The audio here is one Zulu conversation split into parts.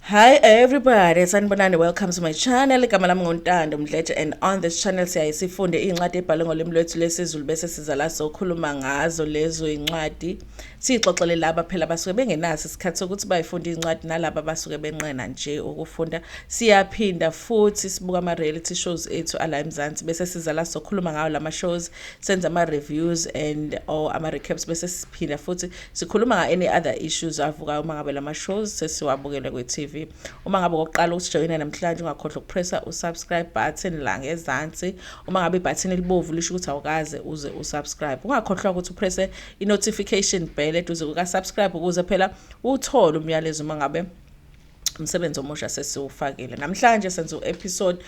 Hi everybody, sanibonani, welcome to my channel. Igama lami nguNtando Mdletshe and on this channel siyaye sifunde iy'ncwadi ebhalwe ngolimi lwethu lwesiZulu bese siza la sokhuluma ngazo lezo iy'ncwadi. Siyixoxele laba phela basuke bengenaso isikhathi sokuthi bayifunde iy'ncwadi nalaba basuke benqena nje ukufunda. Siyaphinda futhi sibuka ama-reality shows ethu ala eMzansi bese siza la sokhuluma ngawo lama shows, senza ama-reviews and or ama-recaps bese siphinda futhi Sikhuluma nga any other issues avukayo uma ngabe lama shows sesiwabukele kwi TV. Uma ngabe okokuqala usijoyina namhlanje ungakhohlwa ukupressa u subscribe button la ngezansi. Uma ngabe ibutton elibovu lisho ukuthi awukaze uze u subscribe. Ungakhohlwa ukuthi upresse i notification bell eduze kuka subscribe ukuze phela uthole umyalezo uma ngabe umsebenzi omusha sesiwufakile namhlanje senza u-episode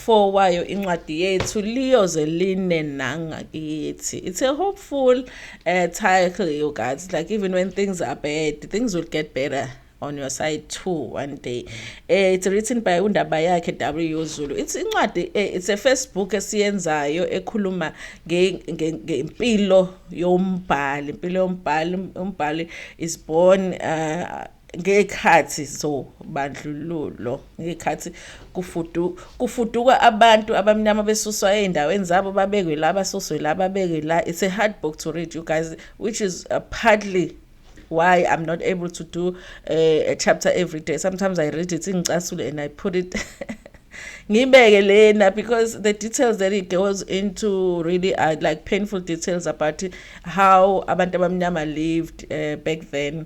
4 wayo incwadi yethu liyoze line nangakithi it's a hopeful uh, title you guys like even when things are bad things will get better on your side too one day uh, it's written by undaba yakhe w zulu it's incwadi uh, it's a first book esiyenzayo ekhuluma ngempilo yombhali impilo yombhali umbhali is born uh, ngey'khathi zobandlululo ngey'khathi kufudu kufuduka abantu abamnyama besuswa ey'ndaweni zabo babekwe la basuswe la babekwe la it's a hard book to read you guys which is uh, partly why i'm not able to do uh, a chapter every day sometimes i read it ingicasule and i put it ngibeke lena because the details that it goes into really are like painful details about how abantu abamnyama lived uh, back then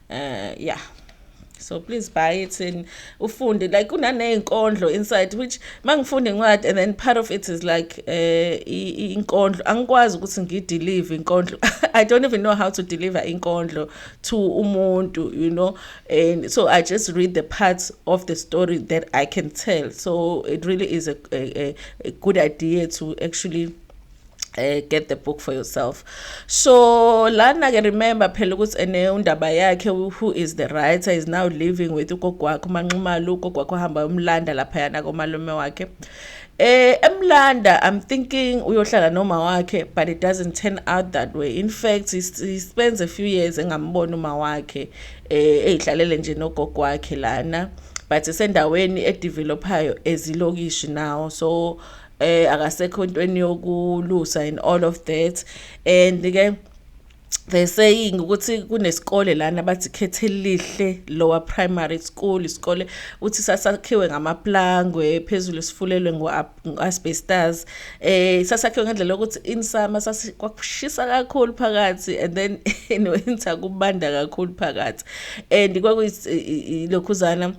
uh, yeah so please buy it and ufunde like kunaney'nkondlo inside which uma ngifunda incwadi and then part of it is like um uh, inkondlo angikwazi ukuthi ngidelive inkondlo i don't even know how to deliver inkondlo to umuntu you know and so i just read the parts of the story that i can tell so it really is a, a, a good idea to actually eh get the book for yourself so lana ke remember phela ukuthi ene undaba yakhe who is the writer is now living with ugogo wakhe umanxumalo ugogo wakhe ohamba umlanda lapha yana komalume wakhe eh emlanda i'm thinking uyohlala noma wakhe but it doesn't turn out that way in fact he, he spends a few years engamboni uma wakhe eh ehlalele nje nogogo wakhe lana but isendaweni edevelopayo ezilokishi now so eh akasekho intweni yokulusa and all of that and ke they saying ukuthi kunesikole lana bathi khethe lihle lower primary school isikole uthi sasakhiwe ngamaplangwe phezulu sifulelwe ngo-asbestas eh sasakhiwe ngendlela yokuthi in summer kwakushisa kakhulu phakathi and then in winter kubanda kakhulu phakathi and kwakuyilokhuzana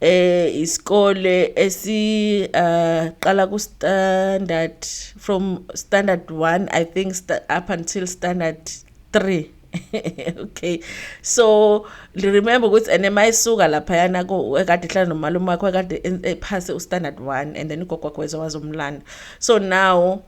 eh isikole esi uh, qala ku standard from standard 1 i think up until standard 3 okay so remember ukuthi and mayisuka lapha yana ko ekade hlala nomalume wakho ekade ephase u standard 1 and then ugogo wakho wezowazomlanda so now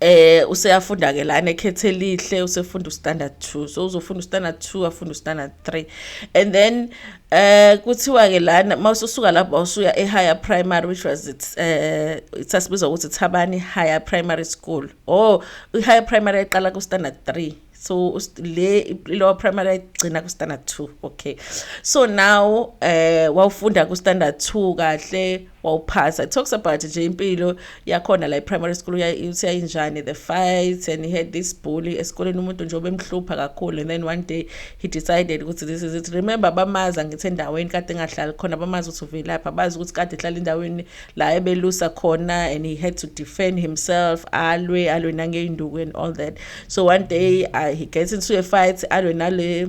eh useyafunda ke lana ekhethe lihle usefunda ustandard 2 so uzofunda ustandard 2 afunda ustandard 3 and then eh kuthiwa ke lana mawususuka lapho usuya ehigher primary which was it eh sasibizwa ukuthi Thabani Higher Primary School oh ihigher primary eqala ku standard 3 so le lower primary ayigcina ku-standard 2 okay so now eh wawufunda ku-standard 2 kahle wawuphasa it talks about nje impilo yakhona la e-primary school useyayinjani the fights and he had this bully esikoleni umuntu nje obemhlupha kakhulu and then one day he decided ukuthi this is it remember bamazi angithi endaweni kade engahlali khona bamazi ukuthi uvelaphi abazi ukuthi kade ehlala endaweni la ebelusa khona and he had to defend himself alwe alwe nangey'nduku and all that so one day uh, he gets into a fight alwe nale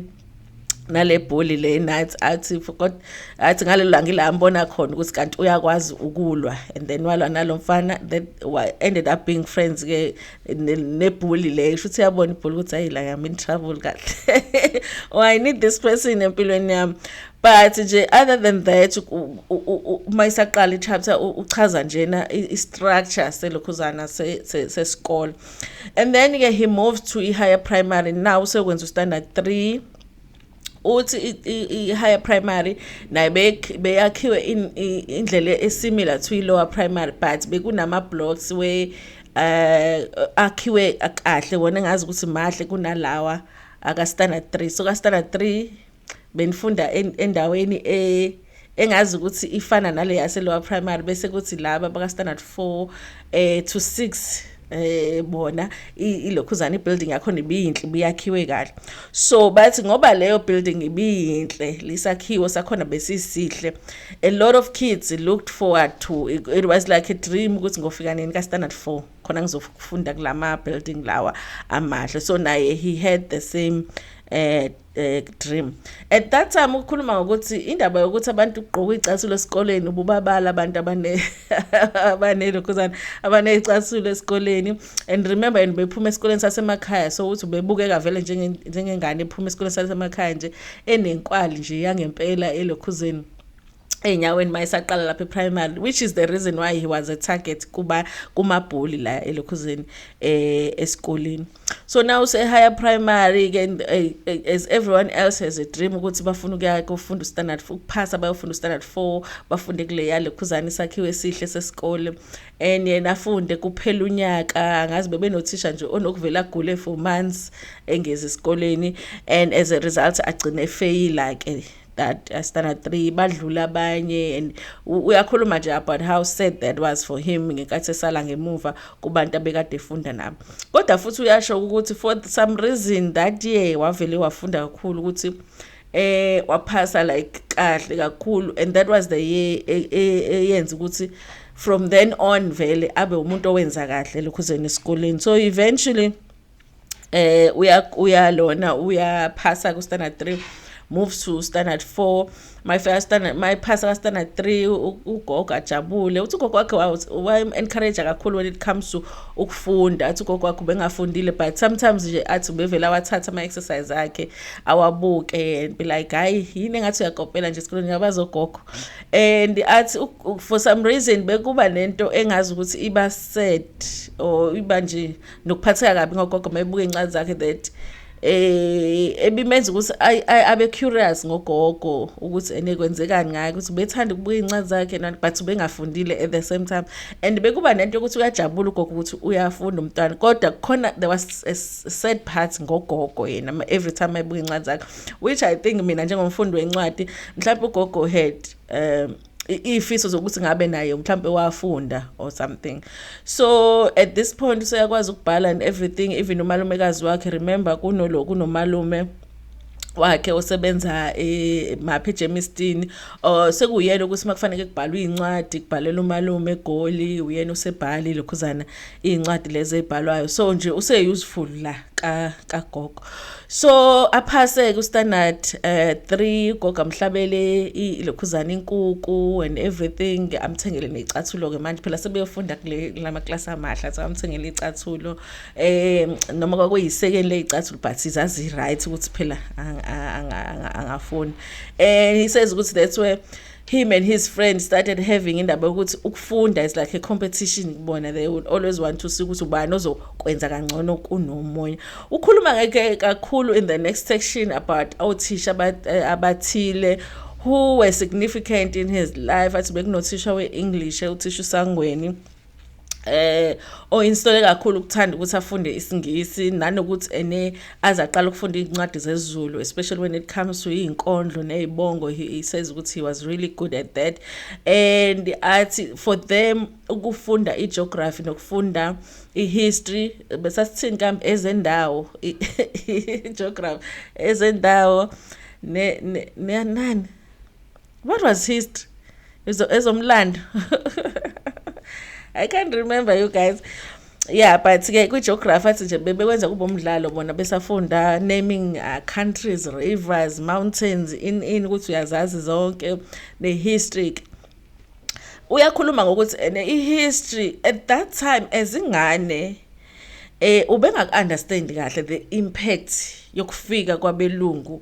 nale bholi le nathi athi kodwa athi ngalelo langa ila ambona khona ukuthi kanti uyakwazi ukulwa and then walwa nalo mfana that ended up being friends ke nebholi le sho ukuthi yabona ibholi ukuthi hayi la I'm in trouble kahle oh I need this person empilweni yami but nje other than that uma isaqala ichapter uchaza njena istructure selokhuzana sesikole and then ke he moves to i-higher primary now sekwenza ustandard 3 uthi i-higher primary naye beyakhiwe indlela esimilar to i-lower primary but bekunama-blocks we uh akhiwe kahle wona ngazi ukuthi mahle kunalawa aka standard 3 so ka standard 3 benifunda endaweni e engazi ukuthi ifana nale yase lower primary bese kuthi laba baka standard 4 eh to 6 eh bona ilokhuzana ibuilding yakho nibiyinhle buyakhiwe kahle so bathi ngoba leyo building ibiyinhle lisakhiwo sakhona besisihle a lot of kids looked forward to it, it was like a dream ukuthi ngofika nini ka standard 4 khona ngizofunda kulama building lawa amahle so naye he had the same eh eh dream at that time ukukhuluma ngokuthi indaba yokuthi abantu ugqoka icasulo esikoleni ububabala abantu abane abanelokhuzana abanecasulo esikoleni and remember and bephuma esikoleni sasemakhaya so uthi bebukeka vele njenge njengengane ephuma esikoleni sasemakhaya nje enenkwali nje yangempela elokhuzeni ey'nyaweni uma esaqala lapha e-primary which is the reason why he was a target kuba kumabhuli la elokhuzeni eh esikoleni so now say higher primary ke eh, eh, as everyone else has a dream ukuthi bafuna ukuya kufunda standard 4 ukuphasa bayofunda standard 4 bafunde kule yalokhuzana isakhiwe esihle sesikole and yena afunde kuphela unyaka ngazi bebenothisha nje onokuvela agule for months engezi esikoleni and as a result agcine efeyila ke that uh, standard 3 badlula abanye and uyakhuluma nje about how sad that was for him ngenkathi esala ngemuva kubantu abekade efunda nabo kodwa futhi uyasho ukuthi for some reason that year wavele wafunda kakhulu ukuthi eh waphasa like kahle kakhulu and that was the year e, e, eyenza ukuthi from then on vele abe umuntu owenza kahle lokhuzeni esikoleni so eventually eh uya uya lona uyaphasa ku standard 3 move to standard 4 my first standard my pass ka standard 3 ugogo ajabule uthi ugogo wakhe wa encourage kakhulu when it comes to ukufunda athi ugogo wakhe bengafundile but sometimes nje athi ubevela wathatha ama exercise akhe awabuke and be like hayi yini engathi uyakopela nje esikoleni ngabazogogo and athi for some reason bekuba nento engazi ukuthi iba set or iba nje nokuphatheka kabi ngogogo mayebuka iy'ncwadi zakhe that eh ebimenza ukuthi abe curious ngogogo ukuthi ene kwenzekani ngaye ukuthi ubethanda ukubuka incwadi zakhe nani but ubengafundile at the same time and bekuba nento yokuthi uyajabula ugogo ukuthi uyafunda umntwana kodwa khona there was a sad part ngogogo yena every time ayibuka incwadi zakhe which i think mina njengomfundi wencwadi mhlawumbe ugogo had um iy'fiso zokuthi ngabe naye mhlawumpe wafunda or something so at this point useyakwazi ukubhala and everything even umalumekazi wakhe remember kunolo kunomalume wakhe osebenza emaphi eh, eJemistini oh, sekuyena ukuthi makufanele kubhalwe incwadi kubhalela umalume egoli uyena usebhali lokhuzana iy'ncwadi lezi ey'bhalwayo so nje use-useful la kagogo so aphase-ke ustandard um eh, three ugogo amhlabele ilokhuzana inkuku and everything amthengele ney'cathulo-ke manje phela sebeyofunda kula maklasi amahle so amthengele iy'cathulo um noma kwakuyisekeni ley'cathulo but zazi-right ukuthi phela angafuni um eh, isays ukuthi that's where him and his friend started having indaba yokuthi ukufunda is like a competition kubona they will always want to see ukuthi ubani ozokwenza kangcono kunomunye ukhuluma ngeke kakhulu in the next section about othisha eh, abathile who were significant in his life athi bekunothisha we-english uthisha usangweni eh oyinsole kakhulu ukuthanda ukuthi afunde isingisi nanokuthi ene aze aqala ukufunda izincwadi zezulu especially when it comes to izinkondlo nezibongo he says ukuthi he was really good at that and athi for them ukufunda igeography nokufunda ihistory besasithini kambe ezendawo geography ezendawo ne nani what was history ezomlando i can't remember you guys yeah but ke kwi-geography athi nje bebekwenza kube umdlalo bona besafunda naming uh, countries rivers mountains in in ukuthi uyazazi zonke ne-history uyakhuluma ngokuthi ene eh, i-history at that time ezingane eh ubengaku-understand kahle the impact yokufika kwabelungu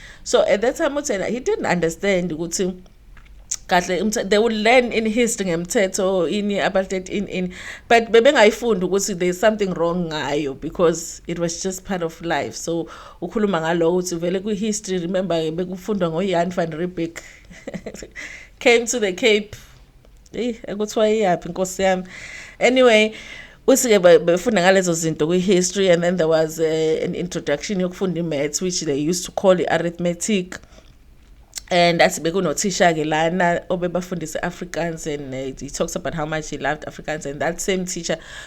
so at that time uthena he didn't understand ukuthi kahle they will learn in history ngemthetho ini apartheid in in but bebengayifundi ukuthi there's something wrong ngayo because it was just part of life so ukhuluma ngalowo ukuthi vele kwi-history remember bekufundwa ngoyan van riebeck came to the cape eyi ekuthiwa iyaphi nkosi yami anyway usike befunda ngalezo zinto kwi-history and then there was a, eh, an introduction yokufunda i-maths which they used to call i-arithmetic and athi bekunothisha-ke lana obebafundisa i-afrikaans and uh, he talks about how much he loved afrikaans and that same teacher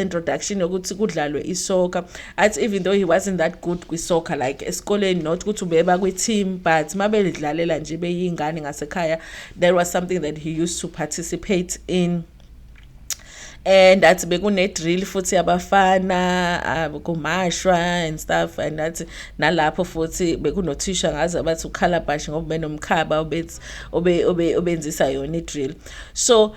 introduction yokuthi kudlalwe isoccer athi even though he wasn't that good kwisoccer like esikoleni not ukuthi ubeba kwi-team but uma belidlalela nje beyingane ngasekhaya there was something that he used to participate in and athi bekune-drill futhi yabafana ah, kumashwa and stuff and athi nalapho futhi bekunothisha ngaze abathi ukhalabashi ngoba benomkhaba obenzisa yona i-drill so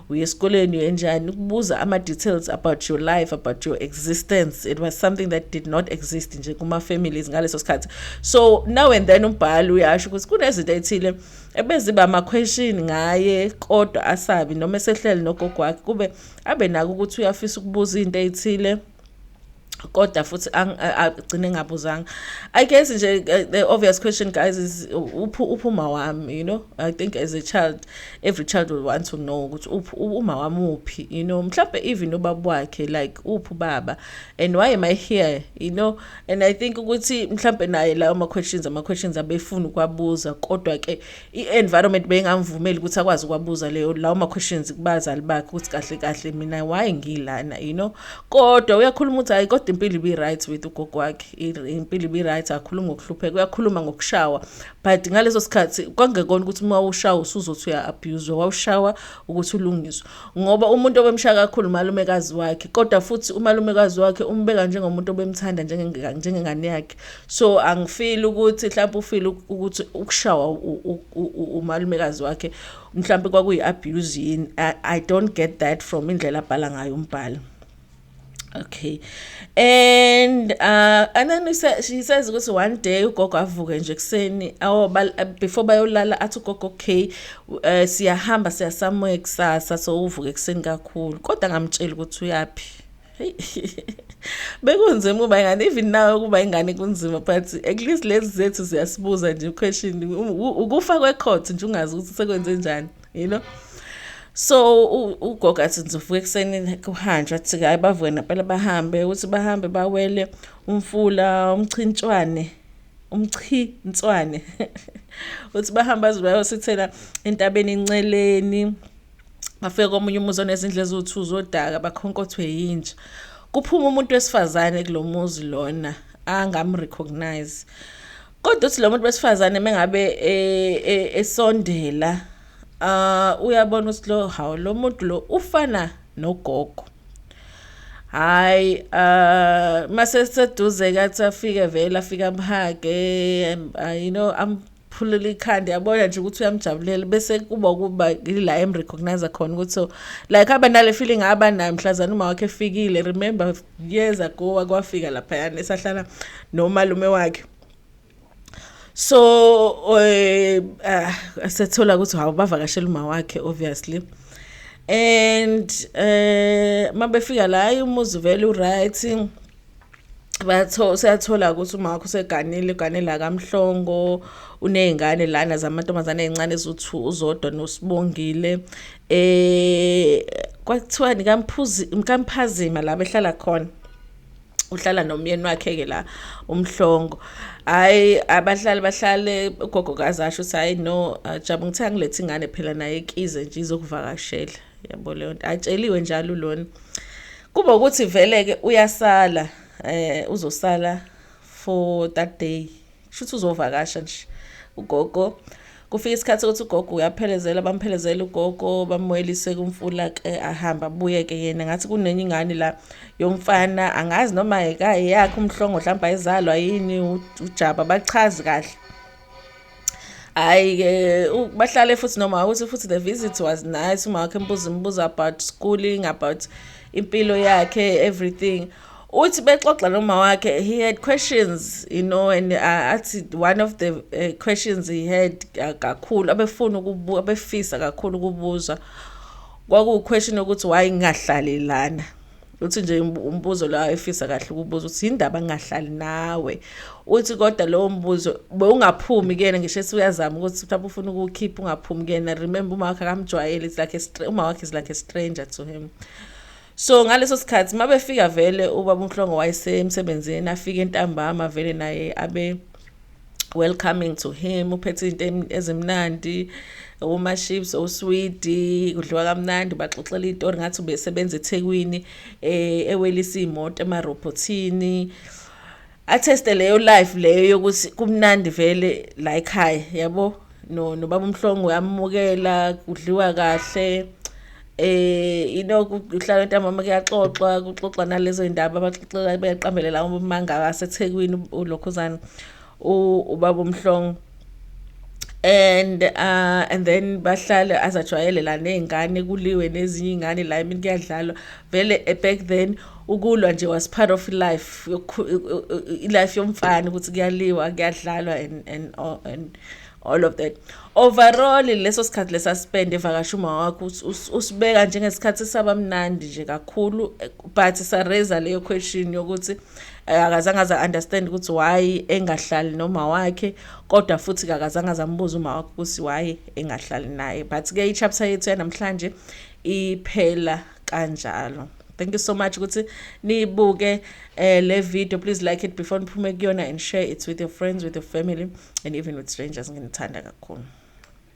uye esikoleni uyenjani ukubuza ama-details about your life about your existence it was something that did not exist nje kuma-families ngaleso sikhathi so now and then umbhali uyasho ukuthi kunezinto ethile ebeziba ama-question ngaye kodwa asabi noma esehlele nogogo wakhe kube abe nako ukuthi uyafisa ukubuza into ey'thile kodwa futhi agcine ngabuzanga i guess nje eh, the obvious question guys is uphi uphuma wami you know i think as a child every child will want to know ukuthi uphi uma wami uphi you know mhlawumbe even ubaba wakhe like uphi baba and why am i here you know and i think ukuthi mhlawumbe naye lawo ama questions ama questions abefuna ukwabuza kodwa ke i-environment beyingamvumeli ukuthi akwazi ukwabuza leyo lawo ma-questions kubazali bakhe ukuthi kahle kahle mina why ngilana you know kodwa uyakhuluma ukuthi hayi kodwa impilo ibi-right with ugogo wakhe impilo ibi-right akhulumi ngokuhlupheka uyakhuluma ngokushawa but ngaleso sikhathi kwangekona ukuthi uma ushawa usuzothi uya-abhuzwa wawushawa ukuthi ulungiswe ngoba umuntu obemshaya kakhulu umalumekazi wakhe kodwa futhi umalumekazi wakhe umbeka njengomuntu obemthanda njengengane yakhe so angifili ukuthi mhlawumbe ufile ukuthi ukushawa umalumekazi wakhe mhlawumbe kwakuyi-abuse yini i don't get that from indlela abhala ngayo umbhalo okay and uh, and then said, she says ukuthi one day ugogo avuke nje kuseni awo uh, before bayolala athi ugogo okay uh, siyahamba siyasamoya kusasa so uvuke kuseni kakhulu kodwa ngamtshela ukuthi uyaphi bekunzima ukuba ingane even now ukuba ingane kunzima but at least lezi zethu ziyasibuza nje question ukufa kwecourt nje ungazi ukuthi sekwenze njani you know so ugogo athi ngizovuka ekuseni kuhanjwa athi hhayi bavuke nampela bahambe ukuthi bahambe bawele umfula umchintshwane umchintswane uthi bahamba aze bayosithela entabeni enceleni bafike komunye umuzi onezindlu eziwu-two zodaka bakhonkothwe yinja kuphuma umuntu wesifazane kulo muzi lona angamrecognize kodwa uthi lo muntu besifazane mengabe e, e, esondela ah uyabona ukuthi lo hawu lo muntu lo ufana nogogo hayi uh ah, mase seduze kathi afike vele afika amhage you know am phulula ikhanda yabona nje ukuthi uyamjabulela bese kuba ukuba ila em recognize khona ukuthi so like aba nale feeling aba nayo mhlazana uma wakhe efikile remember years ago wakwafika lapha yana esahlala nomalume wakhe so eh uh, sethola ukuthi hawu bavakashela uma wakhe obviously and eh mabefika la umuzi vele uright batho siyathola ukuthi uma wakho seganile ganela kamhlongo unezingane lana zamantombazane ezincane ezuthu uzodwa nosibongile eh kwathiwa nikamphuzi mkamphazima la behlala khona uhlala nomyeni wakhe ke la umhlongo hayi abahlali bahlale ugogo kazasho ukuthi hayi no jabu ngithe angilethe ingane phela naye kize nje izokuvakashela yabo leyo nto atsheliwe njalo lona kuba ukuthi vele ke uyasala eh uzosala for that day shuthi uzovakasha nje ugogo kufika isikhathi ukuthi ugogo uyaphelezela bamphelezela ugogo bamwelise kumfula ke ahamba abuye ke yena ngathi kunenye ingane la yomfana angazi noma ekayi yakhe umhlongo mhlawumbe ayizalwa yini ujaba bachazi kahle hayi ke bahlale futhi noma ukuthi futhi the visit was nice uma wakhe mbuza imibuzo about schooling about impilo yakhe everything uthi bexoxa noma wakhe he had questions you know and uh, athi one of the uh, questions he had uh, kakhulu abefuna ukubuza abefisa kakhulu ukubuzwa kwakuwuquestion ukuthi why ngingahlali lana uthi nje umbuzo la efisa kahle ukubuza ukuthi indaba ngingahlali nawe uthi kodwa lowo mbuzo bewungaphumi kuyena ngisho ethi uyazama ukuthi mhlawumbe ufuna ukukhipha ungaphumi kuyena remember uma wakhe akamjwayele it's like a uma wakhe is like a stranger to him so ngaleso sikhathi uma befika vele ubaba unhlongo wayesemsebenzini afike entambama vele naye abe welcoming to him uphethe izinto ezimnandi uma chips oswidi kudliwa kamnandi ubaxoxela itori ngathi ubesebenza ethekwini eh, ewelisa iy'moto emarobhothini atheste leyo life leyo yokuthi kumnandi vele la ekhaya yabo no nobaba umhlongo uyamukela kudliwa kahle eh inoku uhlala ntambama kuyaxoxwa kuxoxwa nalezo indaba abaxoxela beqambelela umanga aseThekwini ulokhuzana ubaba umhlongo and uh and then bahlale azajwayelelana nezingane kuliwe nezinye ingane la imini kuyadlalwa vele eh, back then ukulwa nje was part of life life yomfana ukuthi kuyaliwa kuyadlalwa and and and all of that overall leso sikhathi lesaspend evakasha uma wakho usibeka njengesikhathi saba mnandi nje kakhulu but sareza leyo question yokuthi eh, akazange aza understand ukuthi why engahlali noma wakhe kodwa futhi akazange azambuza uma wakhe ukuthi why engahlali naye but ke ichapter yethu yanamhlanje iphela kanjalo thank you so much ukuthi niyibuke eh le video please like it before niphume kuyona and share it with your friends with your family and even with strangers nginithanda kakhulu